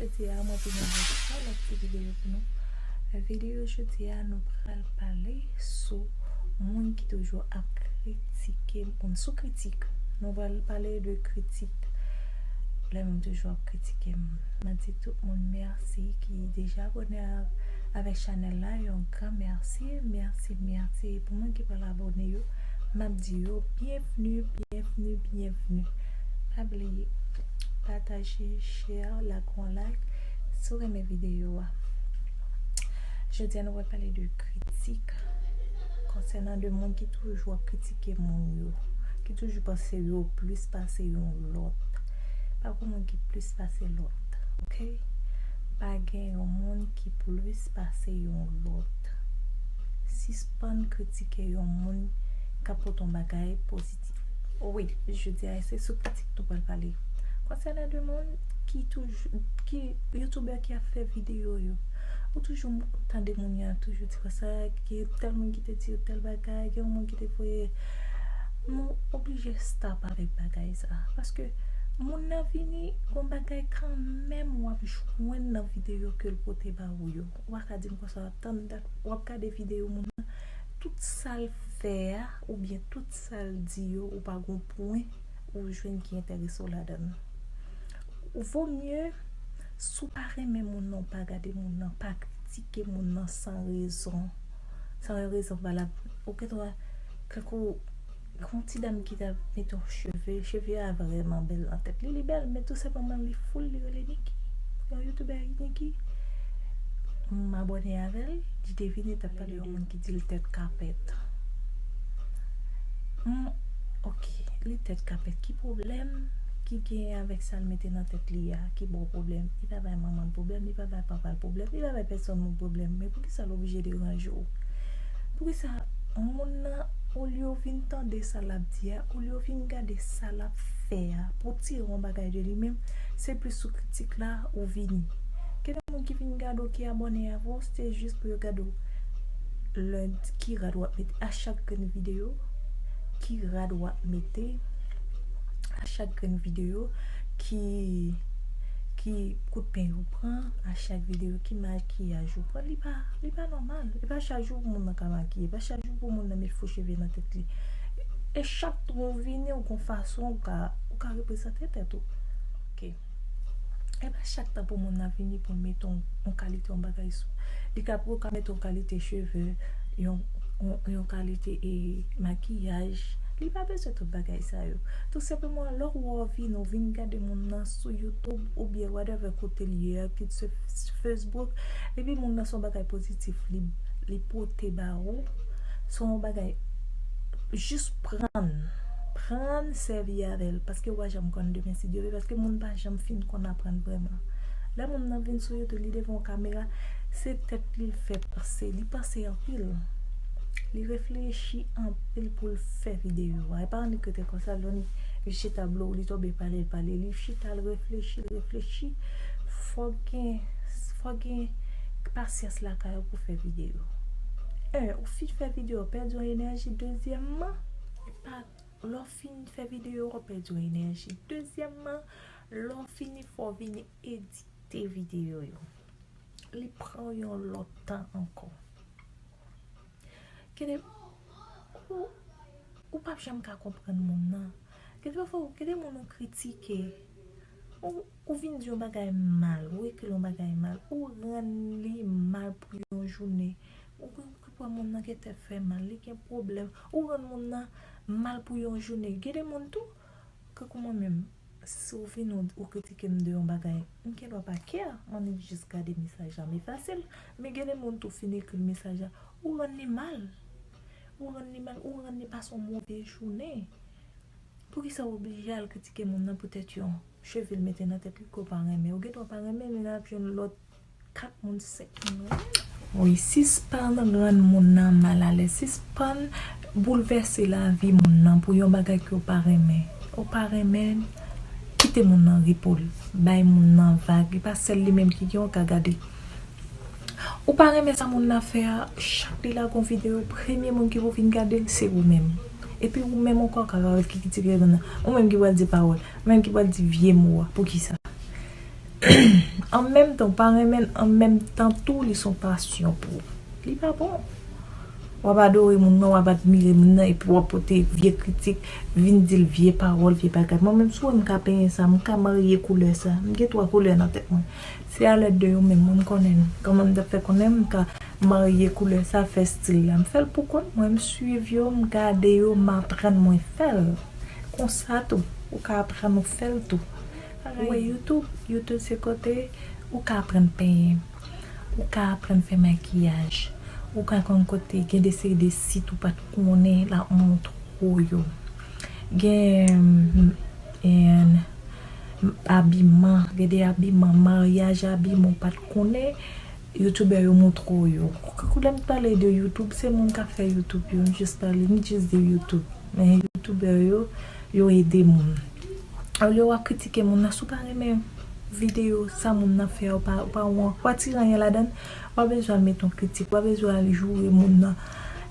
Jodi a mwen vini avèk yon lòt ti videyo pou nou. Videyo jodi a nou pral pale sou moun ki toujou ap kritike moun. Sou kritik. Nou pral pale de kritik. Lè moun toujou ap kritike moun. Mwen di tout moun mèsi ki deja abone avèk chanèl la. Yon gran mèsi. Mèsi, mèsi pou moun ki pral abone yo. Map di yo bienvenue bienvenue bienvenue pa bliye pataje share lak yon like si w renmen video a jodi a nou pral pale de kritik konsènan de moun ki toujou ap kritike moun yo ki toujou panse yo plis pase yon lòt pa gen moun ki plis pase lòt ok pa gen yon moun ki plis pase yon lòt sispann kritike. kritike yon moun ka pote yon bagay pozitif. Wi, jodi a se sou kritik nou pral pale. Konsènan de moun ki toujou, ki youtubè ki ap fè videyo yo, ou toujou tande moun yo ap toujou di konsa, ki tèl moun ki te di yo tèl bagay, gen yon moun ki te voye, nou oblije stop avèk bagay sa. Paske moun nan vini, gon bagay kanmenm w ap jwenn nan videyo ke l pote ba ou yo. Ou pa ka di m konsa. tann dat wap gade video moun nan tout sal fè a oubyen tout sal di yo ou pa gon pwen ou jwenn ki enterese w ladann ou vo mye si w pa renmen moun nan ou pa gade moun nan pa kritike moun nan san rezon san yon rezon valab ou gen dwa tankou Gen yon ti dam ki ta mete yon cheve, cheve a vrèman bèl nan tèt li, li bèl men tou senpleman li foul li rele Niki. Yon youtubè Niki. M abòne avè l, li te vin li t ap pale de yon moun ki di l tèt kapèt. M ok, li tèt kapèt ki pwoblèm ki genyen avèk sa l mete nan tèt li a ki ba w pwoblèm? Li pa bay manman l pwoblèm, li pa bay papa l pwoblèm, li pa bay pèsòn moun pwoblèm men poukisa l oblije deranje w? Poukisa moun nan olye w vin tande sa lap di a, olye w vin gade sa lap fè a pou w tire yon bagay de li menm se plis sou kritik la ou vini. Gen de moun ki vin gade w ki abòne avè w se jis pou yo gade w lundi ki rad wap mete a chak grenn videyo, ki rad wap mete a chak grenn videyo, ki ki kout peny ou pran a chak videyo, ki makiyaj ou pran li pa. Li pa nòmal. E pa chak jou pou moun nan ka makiye. E pa chak jou pou moun nan met fo cheve nan tèt li. E chak tan ou vini ou gon fason ou ka ou ka reprezante tèt ou. Ok. E pa chak tan pou moun nan vini pou l mete yon kalite yon bagay sou. Li ka pou l ka mete yon kalite cheve, yon yon kalite e makiyaj. Li pa bezwen tout bagay sa yo. Tou senpleman lè ou vini, ou vini gade moun nan sou YouTube oubyen whatever kote l ye a ki se Facebook depi moun nan son bagay pozitif li pote ba ou son bagay jis prann prann sèvi avèl paske ou pa janm konn demen si Dye vle paske moun pa janm fin konn aprann vreman lè moun nan vin sou YouTube li devan yon kamera se tèt li l fè panse li panse anpil li reflechi anpil pou l fè videyo a e pa annik rete konsa li chita blou li tonbe pale pale li chita l reflechi l reflechi Fòk gen fòk gen pasyans lakay ou pou fè videyo. 1 ou fin fè videyo ou pèdi yon enèji dezyèmman epa lè ou fin fè videyo ou pèdi yon enèji dezyèmman lè ou fini fò ou vin edite videyo yo li pran ou yon lòt tan ankò gede ou ou pap janm ka konprann moun nan gede pafwa gede moun ou kritike Ou vin di yon bagay mal, ou ekri yon bagay mal, ou rann li mal pou yon jounen, ou gen pou wè moun nan gen tèt fè mal, li gen pwoblèm, ou rann moun nan mal pou yon jounen. Gen de moun tou, kankou mwen menm, si ou vin ou kritike m de yon bagay, m gen dwa pa care, m annik jis gade mesaj la, m efase l. Men gen de moun tou, fin ekri mesaj la, ou rann li mal, ou rann li mal, ou rann li pase yon move jounen. Poukisa ou oblije al kritike moun nan poutèt yon cheve l mete nan tèt li ke w pa renmen? Ou gen dwa pa renmen men lè ap jwenn lòt 4 moun, 5 moun ou renmen. Wi, sispann rann moun nan mal alèz, sispann boulvèse lavi moun nan pou yon bagay ke w pa renmen. Ou pa renmen, kite moun nan repo l. Bay moun nan vag. Li pa sèl li menm ki gen, ou ka gade. Ou pa renmen sa moun nan fè a chak li lage yon video premye moun ki pou vin gadel se ou menm epi ou menm ankò kap ap kritike moun nan ou menm ki pral di pawòl ou menm ki pral di vye mo a poukisa an menm tan ou pa renmen l an menm tan tou li son pasyon pou ou li pa bon wap adore moun nan wap admire moun nan epi wap pote vye kritik vin dil vye pawòl vye bagay mwen menm si w wè m ka penyen sa m ka marye koulè sa m gen 3 koulè nan tèt mwen Se a lèd de yo menm mwen m konnen l kòman m tap fè konnen m ka marye koulè sa fè stil la m fèl pou kont mwen m swiv yo m gade yo m aprann mwen fèl konsa tou ou ka aprann ou fèl tou ou wè youtube youtube se kote ou ka aprann penyen ou ka aprann fè makiyaj ou ka konn kote gen de seri de sit ou pat konnen lap montre w yo gen M abiman gede abiman maryaj abiman ou pat konnen youtuber yo moutre w yo kakou lè m pale de youtube se moun kap fè youtube yo m jis pale m jis di youtube men youtuber yo yo ede moun olye wap kritike moun nan si w pa renmen video sa moun nan fè a ou pa wè ou pa tiranye ladan l Wap bezwen al met on kritik, wap bezwen al joure moun nan,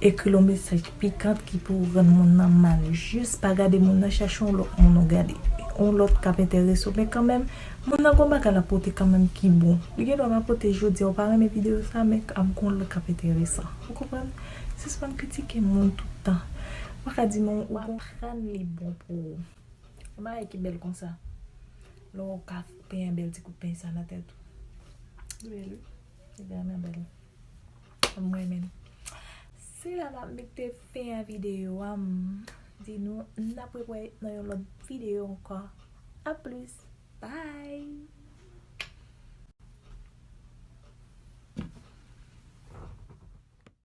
ekri l on mesaj pikant ki pou rann moun nan mal. Jis pa gade moun nan, chache on lòt moun ou gade. On lòt kap enterese w. Men kanmenm, moun nan gen on bagay lap pote kanmenm ki bon. Li gen dwa pa pote jodi a, ou pa renmen videyo sa, men ap gen on lòt kap enteresan. Ou konprann? Sispann kritike moun tout tan. Ou pa ka di non, ou aprann li bon pou ou. Yon bagay ki bèl konsa. Lè w ka pran yon bèl ti kout peny sa nan tèt ou. Bèl wi. Li vrèman bèl. M renmen l. Se la m ap mete fen a videyo a. M di nou n ap repwe nan yon lòt videyo ankò. A plis. Bye!